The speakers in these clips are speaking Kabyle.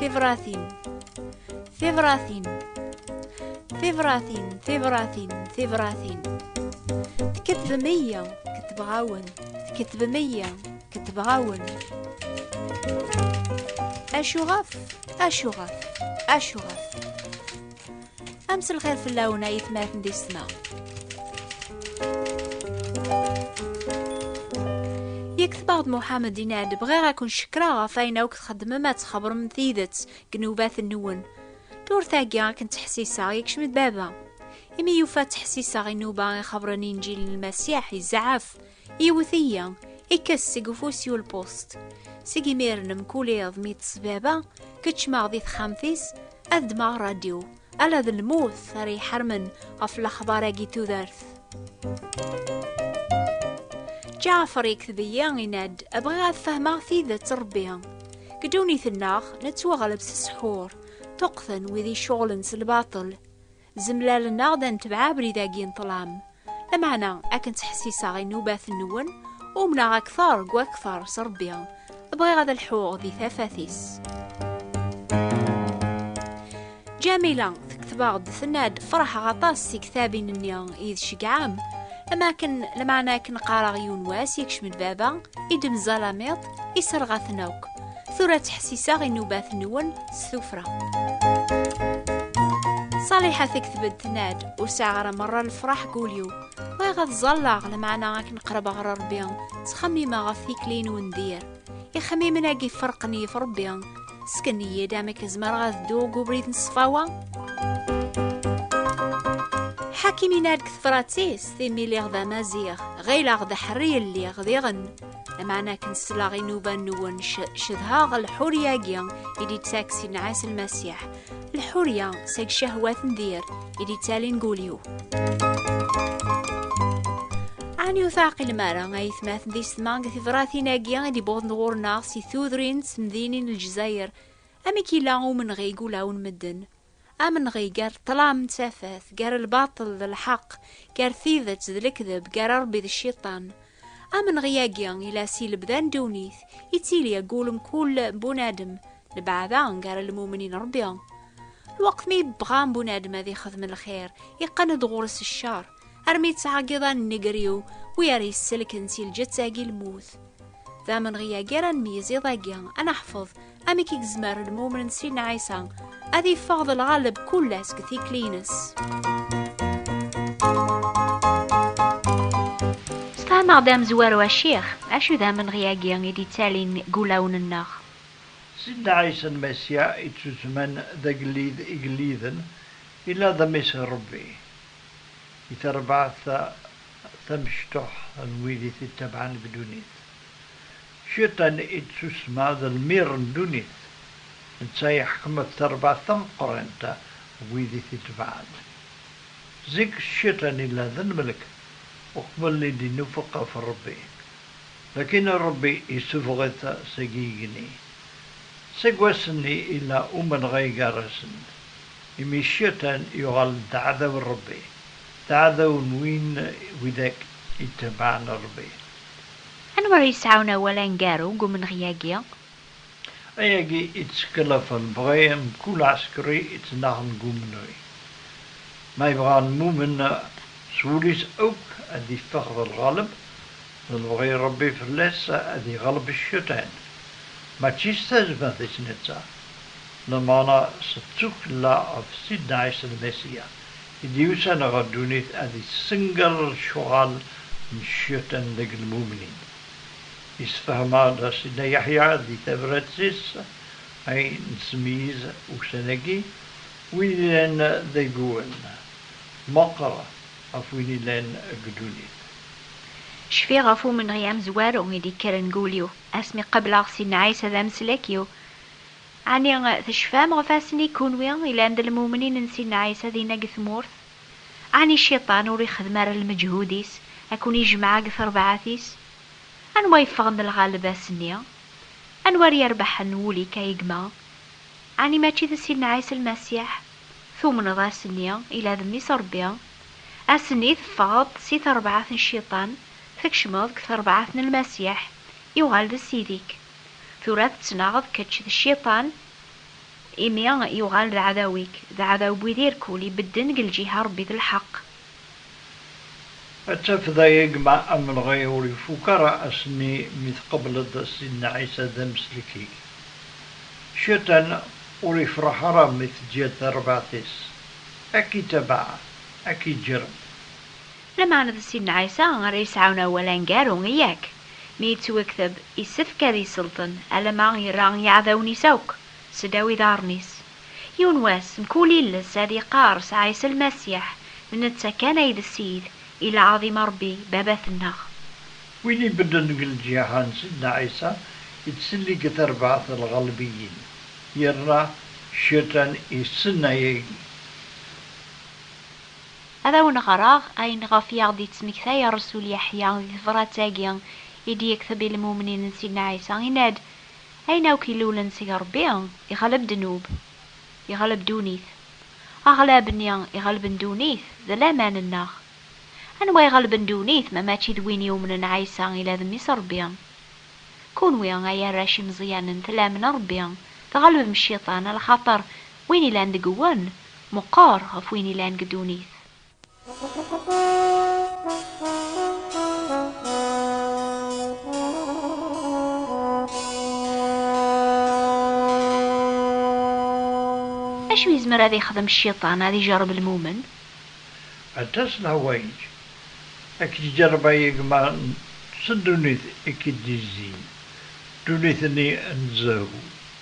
Tibratin Tibratin Tibratin Tibratin Tibratin Tketvem iya Ketbeɣ-awen Tketvem iya Ketbeɣ-awen Acuɣef Acuɣef Acuɣef Am s lxir fell-awen ay tmaten di ssma. Yektebaɣ-d Muḥamed yenna-d bɣiɣ ad kun-cekreɣ ɣef ayen akk txeddmem ad txebrem tidet deg nnubat-nwen. Turtagi akken ttḥessiseɣ yekcem-d baba. Imi yufa ttḥessiseɣ inuba ixebren inǧil n Lmasiḥ, yezɛef. Iwet-iyi, ikkas seg ufus yulpust. Seg imir-n mkul iḍ mi tt-sbaba, keččmeɣ di texxamt-is, ad ddmeɣ radyu. Ala d lmut ara iḥarmen ɣef lexbar-agi tudert. Ǧaɛfer yekteb-iyi inad, bɣiɣ ad fehmeɣ tidet Rebbi. Deg ddunit-nneɣ, nettwaɣleb s ssḥur, tuqten wid iceɣlen s lbaṭel. Zemlalen-aɣ-d ad netbeɛ abrid-agi n ṭṭlam. Lameɛna, akken ttḥessiseɣ i nnubat-nwen, umneɣ akteṛ deg wakteṛ s Ṛebbi, bɣiɣ ad lḥuɣ di tafat-is. Ǧamila tekteb-aɣ-d tenna-d, Feṛḥeɣ aṭas si ktabin-nni i d ceggɛem, am akken, lameɛna akken qqareɣ yiwen wass yekcem-d baba, i d-mzalamiḍ, iserɣ-aten akk. Tura ttḥessiseɣ inubat-nwen s tufra. Saliḥa tekteb-d tenna-d ur sɛiɣ ara merra lefraḥ deg ul-iw. Bɣiɣ ad ẓalleɣ lameɛna akken qerbeɣ ɣer Rebbi, ttxemmimeɣ ɣef tikli n undir. Ixemmimen-agi ferqen yif Rebbi. Sken-iyi-d amek zemreɣ ad dduɣ deg ubrid n ṣṣfawa? Ḥakim yenna-d deg tefrat-is, imi lliɣ d amaziɣ, ɣileɣ d aḥerri i lliɣ diɣen. Lameɛna akken sleɣ i nnuba-nwen cedhaɣ lḥurya-agi i d-ittakes yenɛas lmasiḥ, lḥurya seg cehwat n dir i d-ittalin gul-iw. Ɛni ur teɛqilem ara ay tmaten d isetma deg tebratin-agi i d-iwwḍen ɣur-neɣ si tudrin d temdinin n Lezzayer? Amek yella umenɣi deg ulawen medden? Amenɣi gar ṭṭlam d tafat, gar lbaṭel d lḥeqq, gar tidet d lekdeb, gar Ṛebbi d cciṭan. Amenɣi-agi ila si lebda n ddunit, ittili agul mkul bunadem, lbeɛda gar lmumnin d Ṛebbi. Lweqt mi yebɣa bunadem ad ixdem lxir, iqqen-d ɣur-s ccer. armi yettɛeggiḍan nneger-iw wi ara yesselken si lǧett-agi lmut. D amenɣi-agi ara nmeyyez iḍ-agi, ad neḥfeḍ amek i gezmer lmumen n Sidna Ɛisa ad yeffeɣ d lɣaleb kulla seg tikli-ines. Sfehmeɣ-d amezwaru Acix, acu d amenɣi-agi i d-yettalin deg wulawen-nneɣ? Sidna Ɛisa Lmasiḥ, ittusemman d agellid igelliden, yella d Mmi-s n Ṛebbi. i terbaɛt tamecṭuḥt n wid i t-ittabaɛen deg ddunit. Cciṭan i d-tussma d lmir n ddunit, netta i iḥkem ɣef terbaɛt tameqqrant n wid i t-ittabaɛen. Zik Cciṭan yella d lmelk uqbel i d-inufeq ɣef Ṛebbi, lakin Ṛebbi issuffeɣ-it seg yigenni. Seg wass-nni yella umenɣay gar-asen. Imi cciṭan yuɣal-d d aɛdaw n Ṛebbi, d aɛdaw n win widak itebɛen Ṛebbi. Anwa ara yesɛun awal aneggaru deg umenɣi-agi? Ayagi i d-teskellaf lebɣi n mkul aɛsekri ittnaɣen deg umenɣi. Ma yebɣa lmumen s wul-is akk ad iffeɣ d lɣaleb, d lebɣi n Ṛebbi fell-as ad iɣleb cciṭan, mačči s tazmert-is netta. Lmeɛna s tdukkla ɣef Sidna Ɛisa Lmasiya i d-yusan ɣer ddunit ad yessenger lecɣal n Cciṭan deg lmumnin. Yessefhem-aɣ-d Sidna Yeḥya di tabrat-is ay nesmeyyez ussan-agi, Win yellan d ayyuren, meqqer ɣef win yellan deg ddunit. Cfiɣ ɣef umenɣi amezwaru i d-yekkren deg wul-iw asmi qableɣ Sidna Ɛisa d ameslak-iw. Ɛni tecfam ɣef asni kunwi ilan d lmumnin n Sidna Ɛisa dinna deg tmurt? Ɛni Cciṭan ur ixeddem ara lmeǧhud-is a ken-ijmeɛ deg terbaɛt-is? Anwa yeffɣen d lɣaleb ass-nni? Anwa ara yerbeḥen wul-ik a gma? Ɛni mačči d Sidna Ɛisa Lmasiḥ? Tumneḍ ass-nni ila d Mmi-s Ṛebbi? Ass-nni teffɣeḍ-d si terbaɛt n Cciṭan, tkecmeḍ deg terbaɛt n Lmasiḥ, yuɣal d Ssid-ik. Tura tettnaɣeḍ kečč d cciṭan, imi yuɣal d aɛdaw-ik, d aɛdaw n wid irkul, ibedden deg lǧiha n Rebbi d lḥeqq. Ad tafeḍ a gma amelɣi ur ifuk ara ass-nni mi tqebleḍ Sidna Ɛisa d ameslek-ik. Cciṭan ur ifreḥ ara mi teǧǧiḍ tarbaɛt-is, a k-itabaɛ, a k-iǧǧerreb. Lameɛna d Sidna Ɛisa ara yesɛun awal aneggaru, yak mi yettwakteb yessefk ad yesselṭen alamma yerra i yiɛdawen-is akk seddaw iḍarren-is. Yiwen wass, mkul iles ad yeqqers Ɛisa Lmasiḥ, d netta kan ay d Ssid, i lɛaḍim a Ṛebbi, Babat-nneɣ. Win ibedden deg lǧiha n Sidna Ɛisa yettselli deg terbaɛt n lɣelbiyin, yerna Cciṭan yessen ayagi. Ad awen-ɣreɣ ayen ɣef i aɣ-d-yettmektay Rresul Yeḥya di tebrat-agi i d-yekteb i lmumnin n Sidna Ɛisa, yenna-d, Ayen akk ilulen seg Rebbi, iɣleb ddnub, iɣleb ddunit. Aɣlab-nni iɣelben ddunit, d laman-nneɣ. Anwa iɣelben ddunit ma mačči d win yumnen Ɛisa ila d Mmi-s n Rebbi? Kunwi, ay arrac imeẓyanen, tlamen Rebbi, tɣelbem cciṭan, lxaṭer, Win ilan deg wen, meqqer ɣef win ilan deg ddunit. Acu yezmer ad ixdem cciṭan ad ijerreb lmumen? Aṭas n ḥwayeǧ a k-iǧerreb a gma s ddunit i k-id-yezzin, ddunit-nni n zzhu,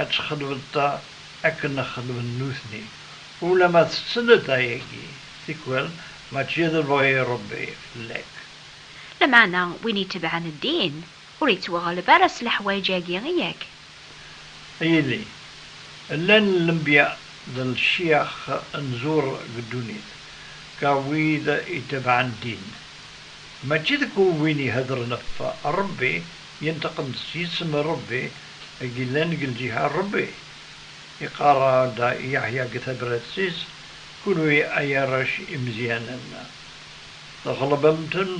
ad txedmeḍ akken xedmen nutni, ulamma tettned ayagi, tikwal mačči d lebɣi n Rebbi fell-ak. Lameɛna win itebɛen ddin, ur ittwaɣleb ara s leḥwayeǧ-agi, yak? A yelli, llan lenbya d lecyax n zur deg ddunit, ka wid itebɛen ddin, mačči deg win ihedren ɣef Rebbi Yenṭeq-d s yisem n Ṛebbi i yellan deg lǧiha n Ṛebbi. Iqarr-d Yeḥya deg tabrat-is, Kunwi ay arrac imeẓyanen, tɣelbem-ten,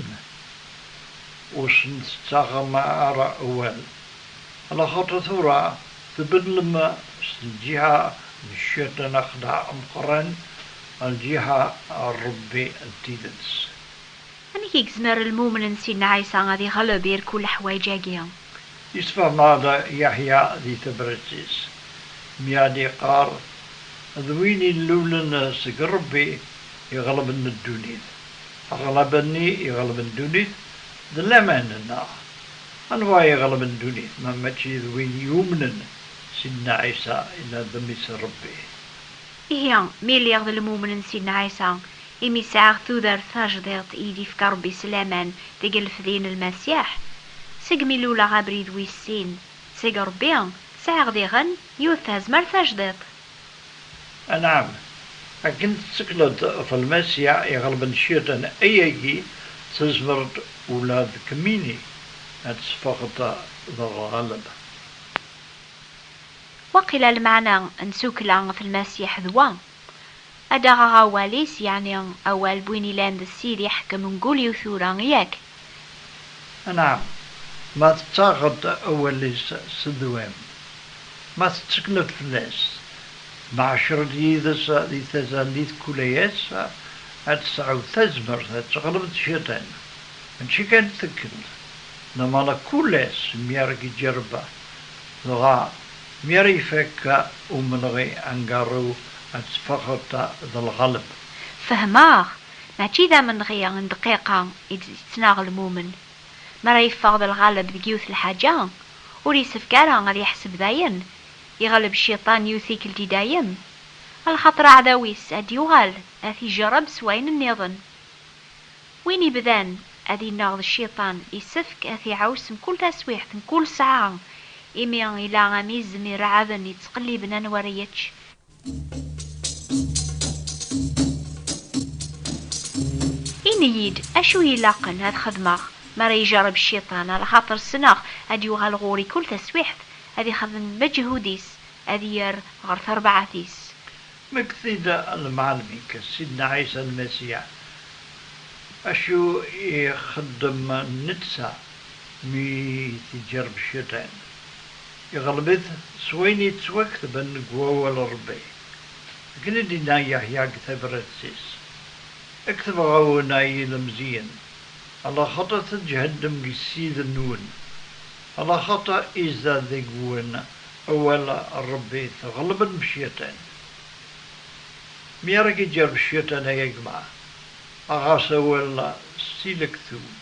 ur sen-tettaɣem ara awal, laxaṭer tura tbeddlem seg lǧiha n cciṭan axeddaɛ ameqran ɣer lǧiha n Ṛebbi n tidet. Amek i yezmer lmumen n Sidna Ɛisa ad iɣleb irkul leḥwayeǧ-agi? Yesfehmeɣ-d Yeḥya di tebrett-is mi ad iqqar, D win illulen seg Rebbi iɣelben ddunit. Aɣleb-nni iɣelben ddunit d laman, neɣ? Anwa i iɣelben ddunit ma mačči d win yumnen Sidna Ɛisa ila d mmi-s n Rebbi? Ihi, mi lliɣ d lmumen n Sidna Ɛisa, Imi sɛiɣ tudert tajdiṭ i d-ifka Rebbi s laman deg lefdi n Lmasiḥ, segmi luleɣ abrid wis sin seg Rebbi, sɛiɣ diɣen yiwet tazmert tajdiṭ. Anɛam, akken tettekleḍ ɣef Lmasiḥ iɣelben Cciṭan, ayagi tezmer-d ula d kemmini ad teffɣeḍ d lɣelba. Waqila lmeɛna n tddukkla ɣef Lmasiḥ d wa. Ad d-aɣeɣ awal-is, yeɛni awal n win ilan d Ssid iḥekkem mkul yiwet tura, yak? Anɛam, ma tettaɣeḍ-d awal-is s ddwam, ma tettekleḍ fell-as, ma ɛecreḍ yid-s di tazallit kul ass, ad tesɛuḍ tazmert ad teɣleḍ cciṭan. Mačči kan d tikkelt, lamana kul ass mi ara k-iǧerreb, dɣa Mi ara ifak umenɣi angaṛṛu ad teffɣeḍ d lɣelb. Fehmeɣ, mačči d amenɣi n dqiqa i d-yettnaɣ lmumen. Mi ara yeffeɣ d lɣelb deg yiwet lḥaǧa, ur yessefk ara ad yeḥseb dayen yeɣleb cciṭan yiwet tikkelt i dayem, lxaṭer aɛdaw-is ad d-yuɣal ad t-ijerreb s wayen nniḍen. Win ibdan ad innaɣ d cciṭan, isefk ad t-iɛaws mkul taswiɛt, mkul sɛa, imi ila am izem irɛaden yettqelliben anwa ara yečč. Ini-yi-d acu ilaqen ad xedmeɣ mi ara ijerreb cciṭan, alaxaṭer ssneɣ ad d-yuɣal ɣur-i kul taswiɛt, ad ixdem lmeǧhud-is, ad yerr ɣer terbaɛt-is. Mekti-d lmeɛlem-ik Sidna Ɛisa Lmasiḥ, acu i ixeddem netta mi t-iǧerreb Cciṭan? Iɣleb-it s wayen yettwaktben deg Wawal n Ṛebbi. Akken i d-yenna Yeḥya deg tabrat-is, I ketbeɣ-awen, ay ilemẓiyen, alaxaṭer tǧehdem deg Ssid-nwen, alaxaṭer izad deg-wen Awal n Ṛebbi tɣelleb lmecyaṭan. Mi ara k-iǧer lceyṭan ay agma, aɣ-as awal s tilektub.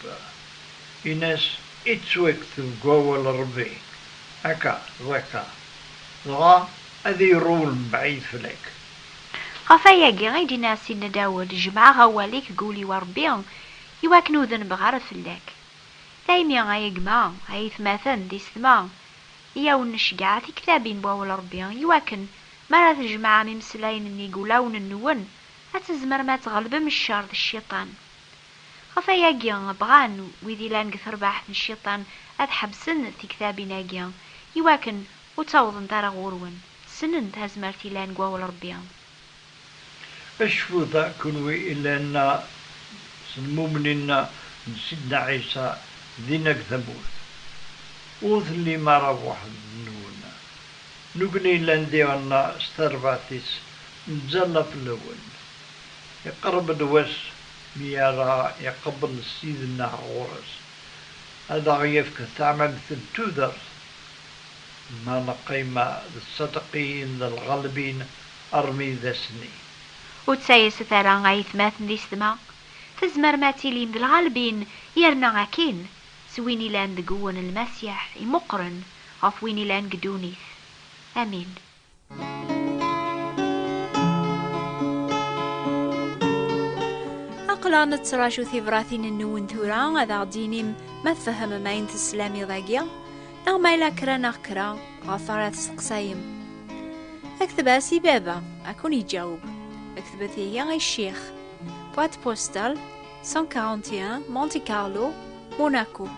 Ini-as, Ittwakteb deg Wawal n Ṛebbi akka d akka, dɣa ad irewwel mebɛid fell-ak. Ɣef wayagi i d-yenna Sidna Dawed, Jemɛeɣ awal-ik deg wul-iw, a Ṛebbi, i wakken ur denbeɣ ara fell-ak. Daymi, ay agma, a aytmaten d isetma, i awen-necgeɛ tiktabin n Wawal n Rebbi i wakken mi ara tjemɛem imeslayen n yigulawen-nwen, ad tzemrem ad tɣelbem ccer d cciṭan. Ɣef wayagi, bɣan wid yellan deg terbaɛt n cciṭan ad ḥebsen tiktabin-agi i wakken ur ttawḍent ara ɣur-wen, ssnen tazmert yellan deg Wawal n Rebbi. Acfu da kunwi ilan-a s lmumnin-a n Sidna Ɛisa din akk tamurt. Ur tellim ara weḥd-nwen. Nukni ilan diɣen-a s tarbaɛt-is nettẓalla fell-awen. Iqerreb-d wass mi ara iqebbel Ssid-nneɣ ɣur-s, ad aɣ-yefk taɛmamt n tudert Ma neqqim d tsadeqiyin d lɣelbin armi d ass-nni. Ur ttayset ara a yetmaten di sedma, tzemrem ad tilim d lɣelbin yerna akin s win ilan deg-wen lmasiḥ imuqren ɣef win ilan deg ddunit. Amin. Aqla nettraǧu tibratin-nwen tura ad aɣ-d-inim ma tfehmem ayen teslam iḍ-agi neɣ ma yella kra neɣ kra ɣef ara testeqsayem. Akteb-as i baba, ad kun-iǧaweb. Aktbet ihi i ccix. Boîte postale 141 Monte Carlo, Monaco.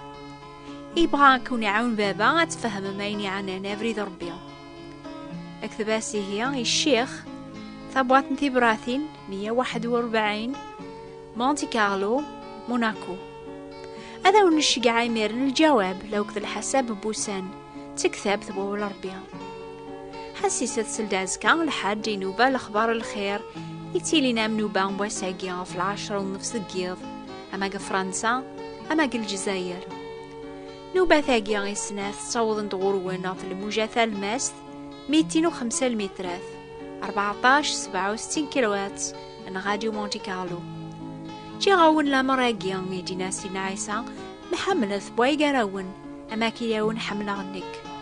Yebɣa ad kun-iɛawen baba ad tfehmem ayen yeɛnan abrid n Rebbi. اكتب-as ihi i ccix tabwaḍt n tibratin 141 Monte Carlo Monaco ad awen-nceggeɛ imiren lǧawab la uked lḥasab n wussan d tektabt wawal Rebbi ḥassisa tsel-d azekka lḥaǧ inuba lexbar lxir yettilin am nuba n wass-agi ɣef lɛecra nnefs deg yiḍ ama deg Fransa ama deg Lezzayer Nubat-agi i snat ttawḍen-d ɣur-wen ɣef lmuja talmast, mitin u xemsa lmitrat, 14 67 kilowatts n Radio Monte Carlo. Ǧǧiɣ-awen lamer-agi i d-yenna Sidna Ɛisa, ma ḥemmlet bwa igarawen, ama akka-yawen ḥemmleɣ nekk.